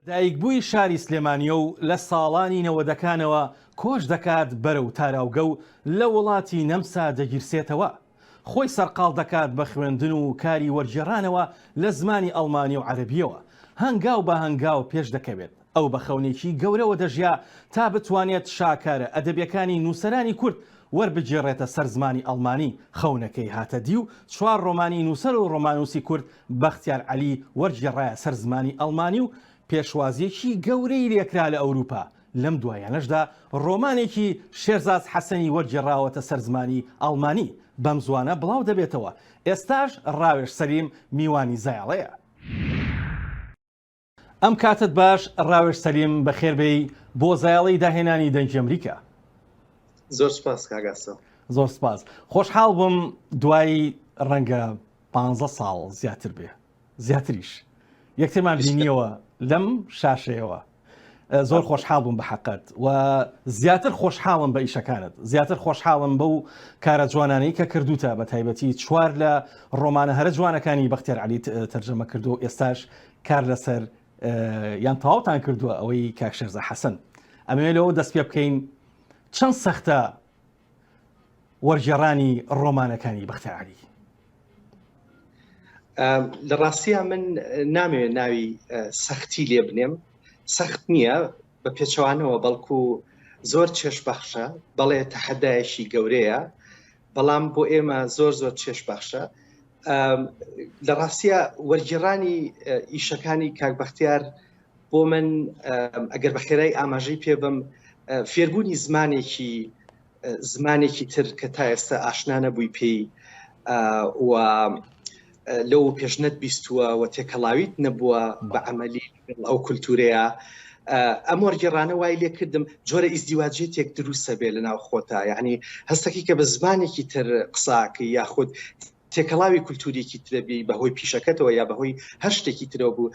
دایکبووی شاری سلێمانییە و لە ساڵانی نەوەدەکانەوە کۆچ دەکات بەرەو تاراوگە و لە وڵاتی نەمسا دەگیرسێتەوە. خۆی سەرقاڵ دەکات بە خوێندن و کاری وەرگێڕانەوە لە زمانی ئەڵمانی و عەرەبییەوە. هەنگاو بە هەنگاو پێش دەکەوێت. ئەو بە خەونێکی گەورەوە دەژیا تا بتوانێت شاکارە ئەدەبییەکانی نووسەرانی کورد وەربگێڕێتە سەر زمانی ئەڵمانی. خەونەکەی هاتە دی و چوار ڕۆمانی نووسەر و ڕۆمانووسی کورد بەختیار عەلی وەرگێڕایە سەر زمانی ئەڵمانی و پێشوازییەکی گەورەی لێکرا لە ئەوروپا، لەم دواییانەشدا ڕۆمانێکی شێرزاد حەسەنی وەرگێڕاوەتە سەر زمانی ئەڵمانی، بەم زووانە بڵاو دەبێتەوە، ئێستاش ڕاوێژ سەلیم میوانی زایەڵەیە. ئەم کاتت باش ڕاوێژ سەلیم بەخێر بێی بۆ زایەڵەی داهێنانی دەنگی ئەمریکا. زۆر سپاس کاک ئاسۆ. زۆر سپاس خۆشحاڵ بووم دوای ڕەنگە پ ساڵ زیاتر بێ زیاتریش یەکترمان بینیەوە لەم شاشەیەوە زۆر خۆشحاڵ بووم بە حقت و زیاتر خۆشحاڵم بە ئیشەکانت زیاتر خۆشحاڵم بەو کارە جوانانەی کە کردوتە بە تایبەتی چوار لە ڕۆمانە هەرە جوانەکانی بەختێر علیت تەرجەمە کردو ئێستاش کار لەسەر یان تەواوتان کردووە ئەوەی کاک شەرزە حەسەن ئەمەوێ لەوە دەست پێ بکەین چەند سەختە وەرجێڕانی ڕۆمانەکانی بەختیاری لە ڕاستیە من نامەوێت ناوی سەختی لێ بنێم سەخت نییە بە پێچوانەوە بەڵکو زۆر چێشبەخشە بەڵێ تەحەدایشی گەورەیە بەڵام بۆ ئێمە زۆر زۆر چێش بەخشە لە ڕاستە وەرگێڕانی ئیشەکانی کاکبختیار بۆ من ئەگەر بە خێرای ئاماژەی پێ بم فێربوونی زمانێکی زمانێکی تر کە تا ئێستا ئاشنانە بووی پێی و لەو پێش نەت بیستووە و تێکەڵاویت نەبووە بە عملی ئەو کولتورەیە ئەم وەرگێڕانە وای لێ کردم جۆرە ئیزدیواجێ تێک دروستە بێ لە ناو خۆتا یعنی هەستەکی کە بە زمانێکی تر قساکە یاخود تێکەڵاوی کولتوریکی ترەبی بەهۆی پیشەکەتەوە یا بەهۆی هەر شتێکی ترەوە بوو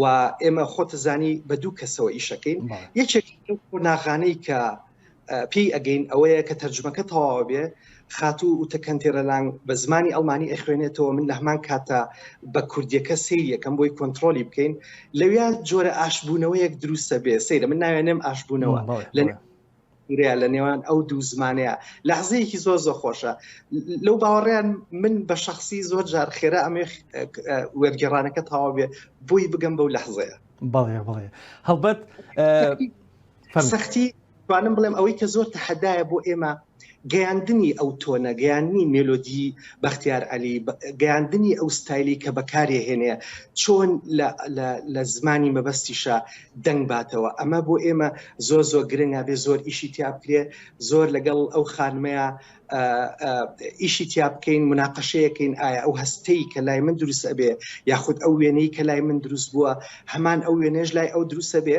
و ئێمە خۆتە زانی بە دوو کەسەوە ئیشەکەین یەکێک ناغانەی کە پێی ئەگەین ئەوەیە کە تەرجمەکە تەواوە بێ خاتوو و تەکەنتێرە لانگ بە زمانی ئەڵمانی ئەخوێنێتەوە من لە هەمان کاتە بە کوردیەکە سیر یەکەم بۆی کۆنتترۆلی بکەین لەویا جۆرە ئاشبوونەوەیەک دروستە بێ سەیرە من ناوێنێم ئاشبوونەوە لە ورەیە لە نێوان ئەو دوو زمانەیە لەحزەیەکی زۆر زۆر خۆشە لەو باوەڕیان من بە شخصی زۆر جار خێرا ئەمێ وەرگێڕانەکە تەواو بێ بۆی بگەم بەو لەحزەیە بەڵێ بڵێ هەڵبەت سەختی توانم بڵێم ئەوەی کە زۆر تەحدایە بۆ ئێمە گەیاندنی ئەو تۆنە، گەیاندنی مێلۆدی بەختیار عەلی، گەیاندنی ئەو ستایلی کە بەکارێ هێنێ، چۆن لە لە لە زمانی مەبەستیشا دەنگ باتەوە، ئەمە بۆ ئێمە زۆر زۆر گرنگ ئەبێ زۆر ئیشی تیا بکرێ، زۆر لەگەڵ ئەو خانمەیا ئە ئە ئیشی تیا بکەین، مناقەشەیە کەین ئایا ئەو هەستەی کە لای من دروست ئەبێ یاخود ئەو وێنەی کە لای من دروست بووە هەمان ئەو وێنەیەش لای ئەو دروست ئەبێ؟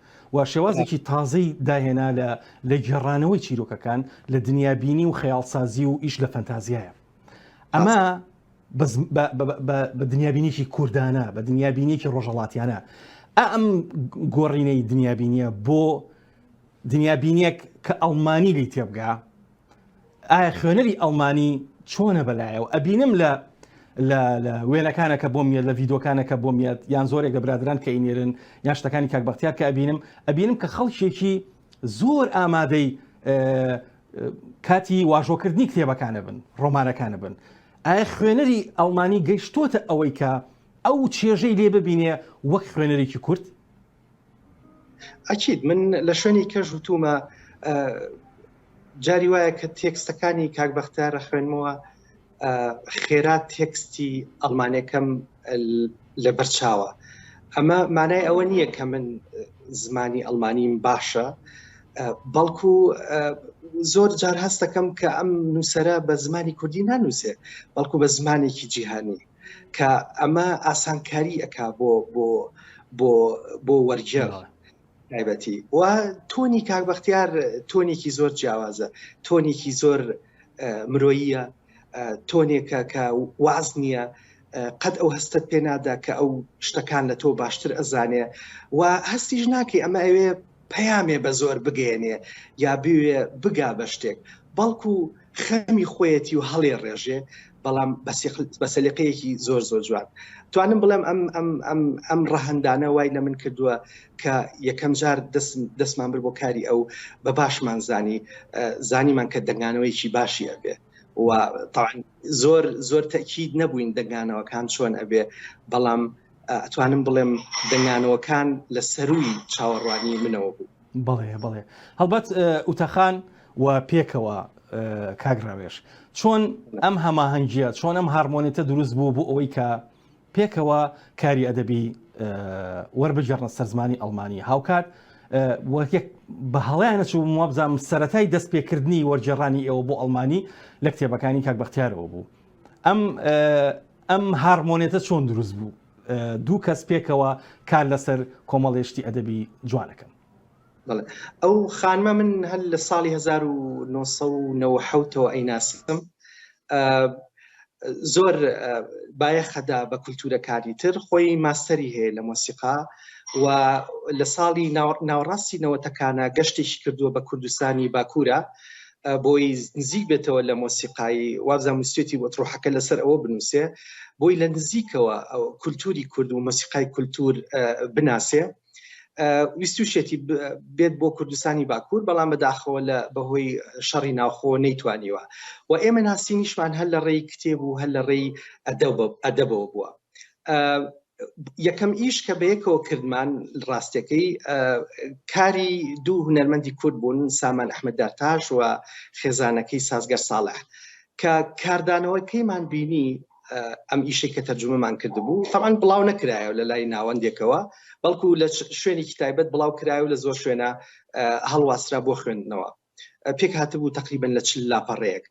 و شێوازێکی تازەی داهێنا لە لە گێڕانەوەی چیرۆکەکان لە دنیابینی و خەیاڵسازی و ئیش لە فەنتازیایە ئەمە بە دنیابینێکی کوردانە بە دنیابینێکی ڕۆژەڵاتیانە ئەم گۆڕینەی دنیابینیە بۆ دنیابینێک کە ئەڵمانی لی تێبگا ئایا خوێنەری ئەڵمانی چۆنە بەلایەوە ئەبینم لە لە وێنەکانەکە بۆم یە لە ڤیدۆکانەکە بۆم یەت یان زۆرێک لە برادران کە ئینێرن یان شتەکانی کاک بەختیار کە ئەبینم ئەبینم کە خەڵکێکی زۆر ئامادەی کاتی واژۆکردنی کتێبەکانە بن ڕۆمانەکانە بن ئایا خوێنەری ئەڵمانی گەیشتۆتە ئەوەی کە ئەو چێژەی لێ ببینێ وەک خوێنەرێکی کورد ئەکیید من لە شوێنی کەژ وتومە جاری وایە کە تێکستەکانی کاک بەختیارە خوێنمەوە خێرا تێکستی ئەڵمانەکەم لە بەرچاوە ئەمە مانای ئەوە نییە کە من زمانی ئەلمانیم باشە بەڵکو زۆر جار هەستەکەم کە ئەم نووسرە بە زمانی کوردی نانووسێ بەڵکو بە زمانێکی جیهانی کە ئەمە ئاسانکاری ئەک بۆ بۆ بۆ بۆ وەرجێڕ تایبەتی و تۆنی کاک بەختیار تۆنێکی زۆر جیاوازە تۆنێکی زۆر مرۆییە تۆنێکە کە واز نییە قەت ئەو هەستت پێ نادا کە ئەو شتەکان لە تۆ باشتر ئەزانێ و هەستیش ناکەی ئەمە ئەوێ پەیامێ بە زۆر بگەێنێ یا بوێ بگا بە شتێک بەڵکو خەمی خۆیەتی و هەڵێ ڕێژێ بەڵام بە سەلیقەیەکی زۆر زۆر جوان توانم بڵێم ئەم ئەم ئەم ئەم ڕەهندانە وای لە من کردووە کە یەکەم جار دەستمان بر بۆ کاری ئەو بە باشمان زانی زانیمان کە دەنگانەوەیکی باشی ئەبێ و تاعاان زۆر زۆر تەکیید نەبووین دەنگانەوەکان چۆن ئەبێ بەڵام ئەتوانم بڵێم دەنگانەوەکان لە سەرووی چاوەڕوانیی منەوە بوو. بەڵێ بەڵێ هەڵبەت ئوتەخان و پێکەوە کاک ڕاوێژ چۆن ئەم هەماهەنگیە چۆن ئەم هارمۆنێتە دروست بوو بۆ ئەوەی کە پێکەوە کاری ئەدەبی وەربگەڕنە سەرزمانی ئەڵمانی هاوکات وەکێک بە هەڵیانە چوو وابزانام سەتای دەست پێکردنی وەرجێڕانی ئێوە بۆ ئەڵمانی لە کتێبەکانی کاک بەختیارەوە بوو ئەم ئەم هاڕمۆنێتە چۆن دروست بوو؟ دوو کەس پێکەوە کار لەسەر کۆمەڵێشتی ئەدەبی جوانەکەم. ئەو خانمە من هەر لە ساڵی 1970ەوە ئەیناسم زۆر بایەخەدا بە کولتورەکانی تر خۆی ماستەری هەیە لە مۆسیقا و لە ساڵی ناوەڕاستی نەوەتەکانە گەشتێکی کردووە بە کوردستانی باکوورە بۆی نزیک بێتەوە لە مۆسیقایی وابزان مستێتی وە ڕۆحەکە لەسەر ئەوە بنووسێ بۆی لە نزیکەوە کولتوری کورد و مەسیقای کولتور بناسێ ویستوشێتی بێت بۆ کوردستانی باکوور بەڵام بەداخەوە لە بەهۆی شەڕی ناوخۆ نەیتوانیوە و ئێمە ناسینیشمان هەر لە ڕێی کتێب و هەر لە ڕێی ئەدەبەوە بووە یەکەم ئیش کە بەیەکەوە کردمان ڕاستەکەی کاری دوو هونەرمەندی کورد بوون سامان ئەحمد دارتاش و خێزانەکەی سازگەر ساڵح کە کاردانەوەکەیمان بینی ئەم ئیشەی کە تەرجمەمان کردبوو تەوان بڵاو نەکرایە لە لای ناوەندێکەوە بەڵکو لە شوێنێکی تایبەت بڵاو کرای و لە زۆر شوێنە هەڵواسرا بۆ خوێندنەوە پێکهاتبوو تقریبا لە چل لاپەڕەیەک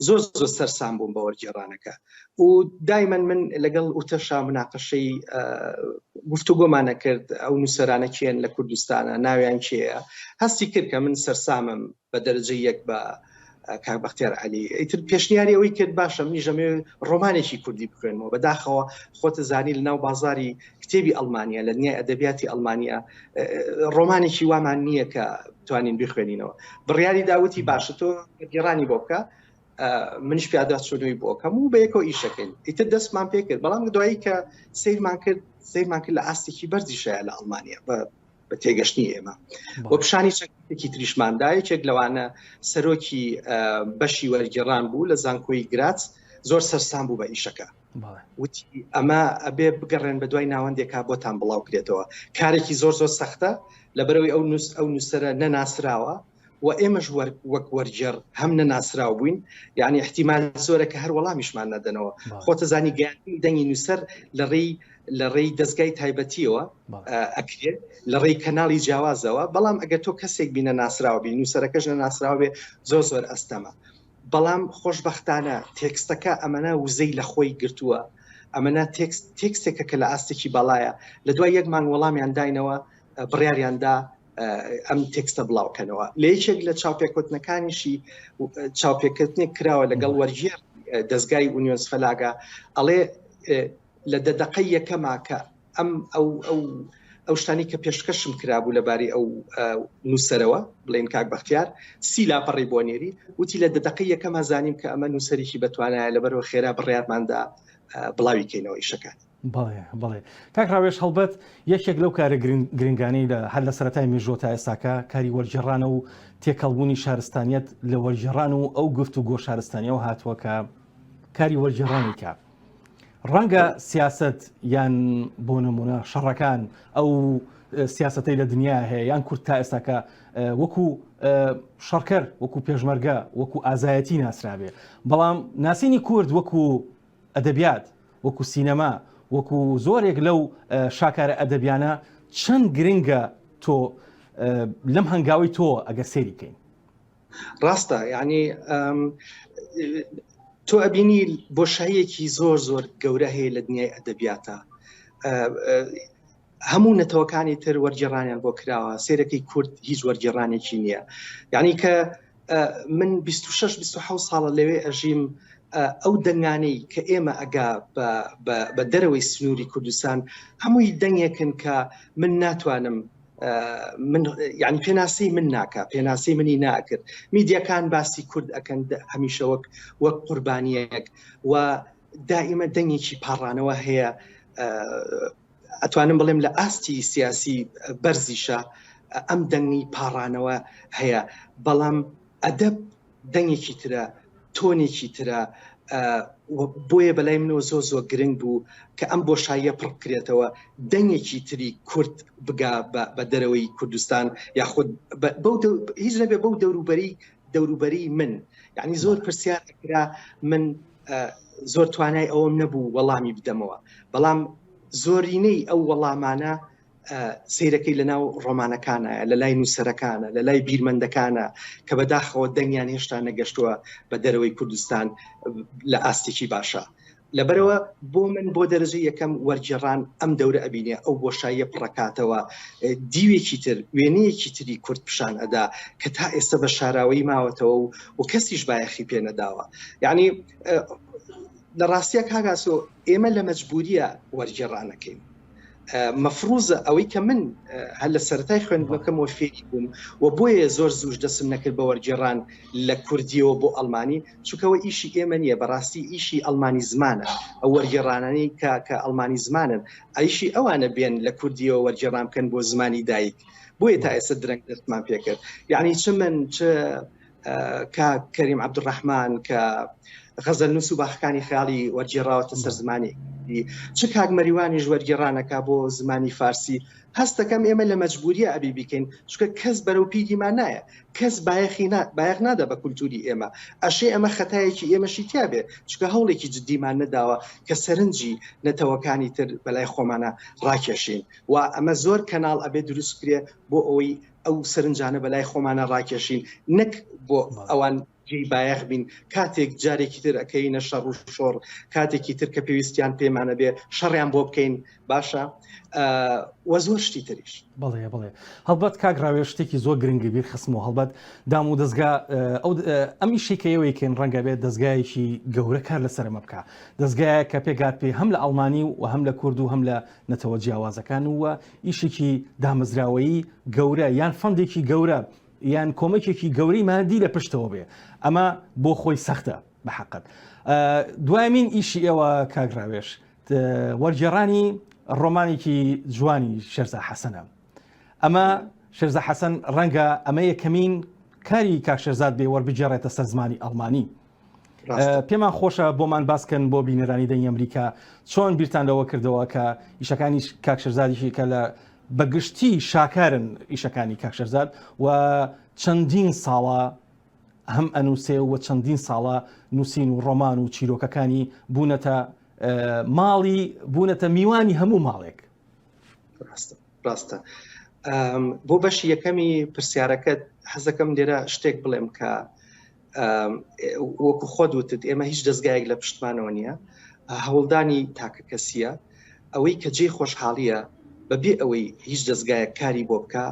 زۆر زۆر سەرسام بووم بە وەرگێڕانەکە و دایمەن من لەگەڵ وتەشا مناقەشەی گفتوگۆمانە کرد ئەو نووسەرانە کێن لە کوردستانە ناویان کێە هەستی کرد کە من سەرسامم بە دەرجە یەک بە کاک بەختیار علی ئیتر پێشنیاری ئەوەی کرد باشە منی ژەمێ ڕۆمانێکی کوردی بخوێنەوە بەداخەوە خۆتە زانی لە ناو بازاری کتێبی ئەڵمانیە لە دنیای ئەدەبیاتی ئەڵمانیا ڕۆمانێکی وامان نییە کە توانین بخوێنینەوە بڕیاری داوتی باشە تۆ گێڕانی بۆ بکە منش پیادا چۆنەوەی بۆکەم و بەیەکەوە ئیشەکەین ئیتر دەستمان پێ کرد بەڵام دوایی کە سیرمان کرد سیرمان کرد لە ئاستێکی بەرزی شایە لە ئەڵمانیا بە بە تێگەشتنی ئێمە بۆ پیشانی چەکێکی تریشماندا یەکێک لەوانە سەرۆکی بەشی وەرگێڕان بوو لە زانکۆی گرات زۆر سەرسان بوو بە ئیشەکە وتی ئەمە ئەبێ بگەڕێن بە دوای ناوەندێکا بۆتان بڵاو کرێتەوە کارێکی زۆر زۆر سەختە لەبەرەوەی ئەو نووس ئەو نووسەرە نەناسراوە و ئێمەش وەک وەرجێڕ هەم نەناسراو بووین یعنی احتیمال زۆرە کە هەر وەڵامیشمان نەدەنەوە خۆتە زانی گەیاندنی دەنگی نووسەر لە ڕێی لە ڕێی دەستگای تایبەتیەوە ئەکرێت لە ڕێی کەناڵی جیاوازەوە بەڵام ئەگەر تۆ کەسێک بینە ناسراوە بین نووسەرەکەش نەناسراوێ زۆر زۆر ئەستەمە بەڵام خۆشبەختانە تێکستەکە ئەمەنا وزەی لە خۆی گرتووە، ئەمەنا تێکست تێکستێکە کە لە ئاستێکی باڵایە، لە دوای یەک مانگ وەڵامیان داینەوە بڕیاریان دا ئەم تێکستە بڵاو کەنەوە، لە یەکێک لە چاوپێکەوتنەکانیشی چاوپێکەوتنێک کراوە لەگەڵ وەرگێڕی دەزگای ئونیۆنس فەلاگا ئەڵێ، لە دە دەقەی یەکەما کە ئەم ئەو ئەو ئەو شتانی کە پێشکەشم کرابوو لەباری ئەو نووسەرەوە بڵین کاک بەختیار سی لاپەڕی بۆ نێری وتی لە دە دەقەی یەکەما زانیم کە ئەمە نووسەرێکی بەتوانایە لەبەرەوە خێرا بڕیارماندا بڵاوی کەینەوە ئیشەکانی بەڵێ بڵێ کاک ڕاوێش هەڵبەت یەکێک لەو کارە گرنگانەی لە هەر لە سەرای مێژۆ تا ئێستاکە کاری وەرجێڕانە و تێکەڵبوونی شارستانیت لە وەرجێڕان و ئەو گفت و گۆ شارستانیەوە هاتووە کە کاری وەرجێڕانیکە ڕەنگە سیاست یان بۆ نمونە شەڕەکان ئەو سیاستەی لە دنیا هەیە یان کورت تا ئێستاکە وەکو شەڕکەر وەکو پێشمەرگە وەکو ئازایەتی ناسرابێ بەڵام ناسینی کورد وەکو ئەدەبیات وەکو سینەما وەکو زۆرێک لەو شاکارە ئەدەبیانە چەند گرنگە تۆ لەم هەنگاوی تۆ ئەگە سێریکەین ڕاستە یعنی تۆ ئەبینی بۆشاییەکی زۆر زۆر گەورە هەیە لە دنیای ئەدەبیاتە هەموو نەتەوەکانی تر وەرگێڕانیان بۆ کراوە سێرەکەی کورد هیچ وەرگێڕانێکی نییە یعنی کە من 26 26 ساڵە لەوێ ئەژیم ئەو دەنگانەی کە ئێمە ئەگا بە دەرەوەی سنووری کوردستان هەمووی دەنگێکن کە من ناتوانم من یعنی پێناسی من ناکە پێناسی منی ناکرد میدیەکان باسی کورد ئەکەن هەمیشە وەک وەک قوربانیەک و دائیمە دەنگێکی پاڕانەوە هەیە ئەتوانم بڵێم لە ئاستی سیاسی بەرزیشە ئەم دەنگی پاڕانەوە هەیە بەڵام ئەدەب دەنگێکی ترە تۆنێکی ترە بۆیە بەلای منەوە زۆ زۆ گرنگ بوو کە ئەم بۆشاییە پڕکرێتەوە دەنگێکی تری کورد بگا بە دەرەوەی کوردستان یاخود هیچ نەبێ بەو دەوروبەری دەوروبەری من یعنی زۆر پرسیار کرا من زۆر توانای ئەوم نەبوو وەڵامی بدەمەوە بەڵام زۆرینەی ئەو وەڵامانە سیرەکەی لەناو ڕۆمانەکانە لە لای نووسەرەکانە لە لای بیرمەندەکانە کە بەداخەوە دەنگیان هێشتا نەگەشتووە بە دەرەوەی کوردستان لە ئاستێکی باشە لەبەرەوە بۆ من بۆ دەرەجە یەکەم وەرجێڕان ئەم دەورە ئەبینێ ئەو بۆشاییە پڕکاتەوە دیوێکی تر وێنەیەکی تری کورد پیشان ئەدا کە تا ئێستا بە شاراوەی ماوەتەوە و و کەسیش بایەخی پێ نەداوە یعنی لە ڕاستیە کاگاسۆ ئێمە لە مەجبوریە وەرجێڕانەکەین مەفروزە ئەوەی کە من هەر لە سەرای خوێندنەکەمەوە فێری بووم و بۆیە زۆر زوش دەسم نەکرد بە وەرگێڕان لە کوردیەوە بۆ ئەلمانی چکەوە ئیشی ئێمە نییە بەڕاستی ئیشی ئەلمانی زمانە ئەو وەرگێڕانانی کە کە ئەلمانی زمانن ئایشی ئەوانە بێن لە کوردیەوە وەرگێڕان بکەن بۆ زمانی دایک بۆیە تا ئێستا درەنگ دەستمان پێکرد یعنی چ من چ کاک کەریم عبدڕحمان کە غەزە نووس و باخەکانی خیاڵی وەرگێڕاوەتە سەر زمانی چ کاک مەریوانیش وەرگێڕانەکە بۆ زمانی فارسی هەستەکەم ئێمە لە مەجبوریە ئەبی بیکەین چکە کەس بەرەو پیدیمان نایە کەس بایەخی بایەخ نادا بە کولتوری ئێمە ئەشێ ئەمە خەتایەکی ئێمەشی تیاابێ چکە هەوڵێکی جددیمان نەداوە کە سەرنجی نەتەوەکانی تر بەلای خۆمانە ڕاکێشین و ئەمە زۆر کەناڵ ئەبێ دروست کرێ بۆ ئەوەی ئەو سەرنجانە بەلای خۆمانە ڕاکێشین نەک بۆ ئەوان جێی بایەخ بین کاتێک جارێکی تر ئەەکەی نەشە ڕوو شۆڕ کاتێکی تر کە پێویستیان پێمانە بێ شەڕیان بۆ بکەین باشە وە زۆر شتی تریش بڵێ بڵێ هەڵبەت کاک ڕاوێ شتێکی زۆر گرنگی بیر خسم و هەڵبەت دام و دەستگا ئەو ئەم ئیشی کە ئێوەیکەین ڕەنگە بێت دەستگایەکی گەورە کار لەسەرمە بکە دەستگایە کە پێگات پێ هەم لە ئەڵمانی و هەم لە کورد و هەم لە نەتەوە جیاوازەکان ووە ئیشێکی دامەزراوەیی گەورە یان فەندێکی گەورە یان کۆمەکێکی گەورەی مادی لە پشتەوە بێ ئەمە بۆ خۆی سەختە بە حقت دوایمین ئیشی ئێوە کاگراوێش وەرجێڕانی ڕۆمانێکی جوانی شێرزا حەسەنە ئەمە شێرزا حەسەن ڕەنگە ئەمە یەکەمین کاری کاکشێرزاد بێ وەربگێڕێتە سەر زمانی ئەڵمانی پێمان خۆشە بۆمان باسکەن بۆ بینەرانی دەنگ ئەمریکا چۆن بیرتان لەوە کردەوە کە ئیشەکانی کاکشەرزادیشی کە لە بەگشتی شاکارن ئیشەکانی کاکشەرزاد و چەندین ساڵە هەم ئەنووسێ و چەندین ساڵە نووسین و ڕۆمان و چیرۆکەکانی بوونەتە ماڵی بوونەتە میوانی هەموو ماڵێک ڕاستە ڕاستە بۆ بەشی یەکەمی پرسیارەکەت حەزەکەم لێرە شتێک بڵێم کە وەکو خۆت وتت ئێمە هیچ دەستگایەک لە پشتمانەوە نییە هەوڵدانی تاکە کەسیە ئەوەی کە جێ خۆشحاڵیە بەبێ ئەوەی هیچ دەستگایەک کاری بۆ بکە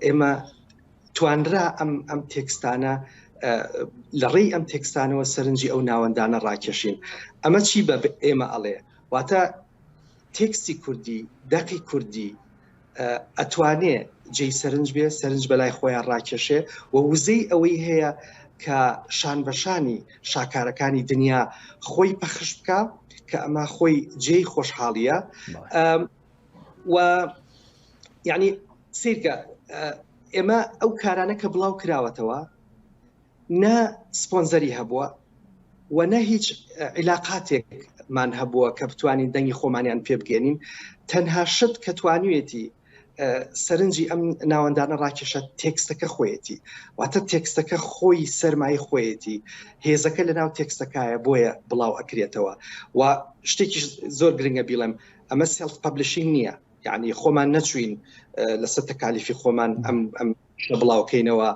ئێمە توانرا ئەم ئەم تێکستانە لە ڕێی ئەم تێکستانەوە سەرنجی ئەو ناوەندانە ڕاکێشین ئەمە چی بە ئێمە ئەڵێ واتە تێکستی کوردی دەقی کوردی ئەتوانێ جێی سەرنج بێ سەرنج بەلای خۆیان ڕاکێشێ و وزەی ئەوەی هەیە کە شان بەشانی شاکارەکانی دنیا خۆی پەخش بکە کە ئەمە خۆی جێی خۆشحاڵیە و یعنی سیرکە ئێمە ئەو کارانە کە بڵاو کراوەتەوە نە سپۆنزەری هەبووە و نە هیچ عیلاقاتێکمان هەبووە کە بتوانین دەنگی خۆمانیان پێ بگەێنین تەنها شت کە توانوێتی سەرنجی ئەم ناوەندانە ڕاکێشە تێکستەکە خۆیەتی واتە تێکستەکە خۆی سەرمای خۆیەتی هێزەکە لە ناو تێکستەکایە بۆیە بڵاو ئەکرێتەوە و شتێکی زۆر گرنگە بیڵێم ئەمە سێڵف پبلشینگ نییە یعنی خۆمان نەچوین لەسەر تەکالیفی خۆمان ئەم پیشە بڵاوکەینەوە،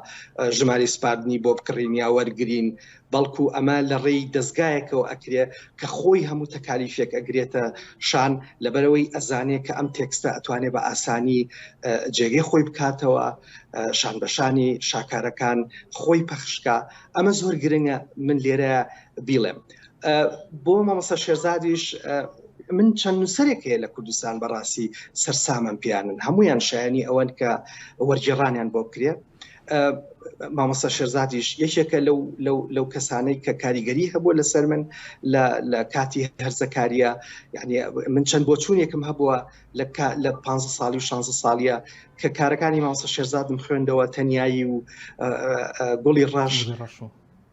ژمارەی سپاردنی بۆ بکڕین یا وەرگرین، بەڵکو ئەمە لە ڕێی دەزگایەکەوە ئەکرێ کە خۆی هەموو تەکالیفێک ئەگرێتە شان لەبەرئەوەی ئەزانێ کە ئەم تێکستە ئەتوانێ بە ئاسانی جێگەی خۆی بکاتەوە شان بەشانی شاکارەکان خۆی پەخشکا ئەمە زۆر گرنگە من لێرە بیڵێم. بۆ مامۆستا شێرزادیش من چەند نووسەرێک هەیە لە کوردستان بەڕاستی سەرسامم پیانن هەمویان شایانی ئەوەن کە وەرجێڕانیان بۆ بکرێت مامۆستا شێرزادیش یەکێکە لەو لەو لەو کەسانەی کە کاریگەری هەبووە لەسەر من لە کاتی هەرزەکاریە یعنی من چەند بۆچوونێکم هەبووە لە لە پ ساڵی و 16 ساڵە کە کارەکانی مامۆستا شێرزادم خوێندەوە تەنایی و گوڵی ڕەش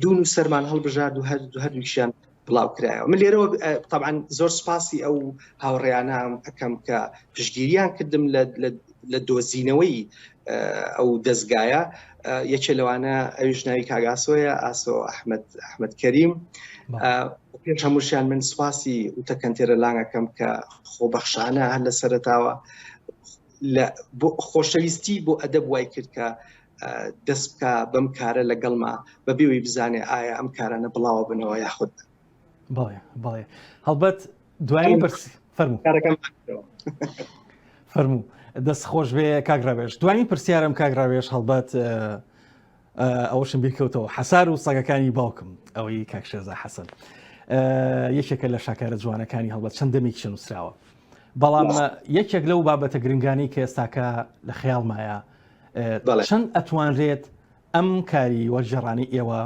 دوو نووسەرمان هەڵبژارد و هەر هەردووکیشیان بڵاوکرایەوە من لێرەوە تەعاان زۆر سپاسی ئەو هاوڕێیانام ئەەکەم کە پشگیریان کردم لە دۆزینەوەی ئەو دەستگایە یەکێ لەوانە ئەویش ناوی کاگاسۆیە ئاسۆ ئەحمد ئەحمد کەریم پێش هەمووشیان من سپاسی وتەکەنتێرە لانگەکەم کە خۆبەخشانە هەر لە سەرتاوە لە خۆشەویستی بۆ ئەدەب وای کرد کە دەست بکە بەم کارە لەگەڵما بە بێوی بزانێ ئایا ئەم کارانە بڵاوە بنەوە یاخود بڵێ بڵێ هەڵبەت دوایی بەرس فەرمو کارەکەم فەرموو دەست خۆش بێ کاگراوێش دوایی پرسیارم کاگراوێش هەڵبەت ئەوەشم بیر کەوتەوە حەسار و سەگەکانی باوکم ئەوەی کاک شێرزا حەسەن یەکێکە لە شاکارە جوانەکانی هەڵبەت چەند دەمێکیشە نووسراوە بەڵام یەکێک لەو بابەتە گرنگانی کە ئێستاکە لە خەیاڵمایە چەند ئەتوانرێت ئەم کاری وەرجێڕانی ئێوە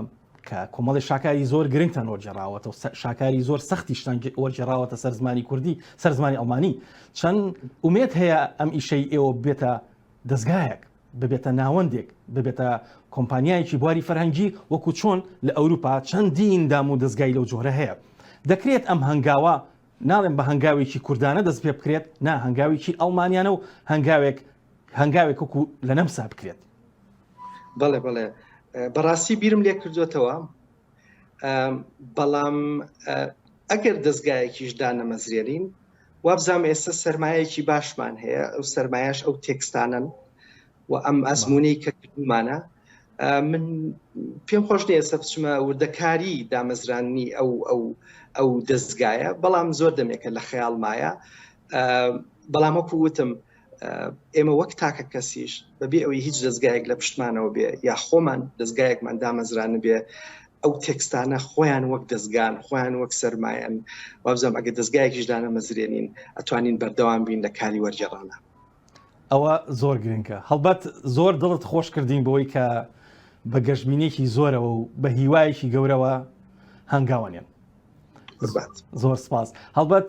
کە کۆمەڵی شاکاری زۆر گرنگتان وەرجێراوەتە و شاکاری زۆر سەختیشتان وەرجێراوەتە سەر زمانی کوردی سەر زمانی ئەڵمانی چەند ئومێت هەیە ئەم ئیشەی ئێوە بێتە دەزگایەک ببێتە ناوەندێک، ببێتە کۆمپانیایەکی بواری فەرهەنگی، وەکو چۆن لە ئەوروپا چەندین دام و دەزگای لەو جۆرە هەیە. دەکرێت ئەم هەنگاوە، ناڵێم بە هەنگاوێکی کوردانە دەست پێ بکرێت، نا هەنگاوێکی ئەڵمانیانە و هەنگاوێک هەنگاوێک وەکو لە نەمسا بکرێت. بەڵێ بەڵێ بەڕاستی بیرم لێکردۆتەوە. بەڵام ئەگەر دەستگایەکیش دانەمەزرێنین وابزانام ئێستا سرمایەکی باشمان هەیە ئەو سرمایش ئەو تێکستانن و ئەم ئەزمونەی کە کردمانە من پێم خۆش نیە سە بچمە وردەکاری دامەزراننی ئەو ئەو ئەو دەستگایە بەڵام زۆر دەمێکە لە خەیاڵمایە بەڵام وەکو وتم ئێمە وەک تاکە کەسیش بەبێ ئەوەی هیچ دەستگایەک لە پشتمانەوە بێ یا خۆمان دەستگایەکمان دامەزران بێ ئەو تێکستانە خۆیان وەک دەستگان خۆیان وەک سرمایەن وابزانام ئەگە دەستگایەکیش دانەمەزرێنین ئەتوانین بەردەوام بین لە کاری وەرجێڕانە ئەوە زۆر گرنگە هەڵبەت زۆر دڵت خۆش کردین بۆی کە بە گەشتبینێکی زۆرەوە و بە هیوایەکی گەورەوە هەنگاوانێن زۆر سپاس هەڵبەت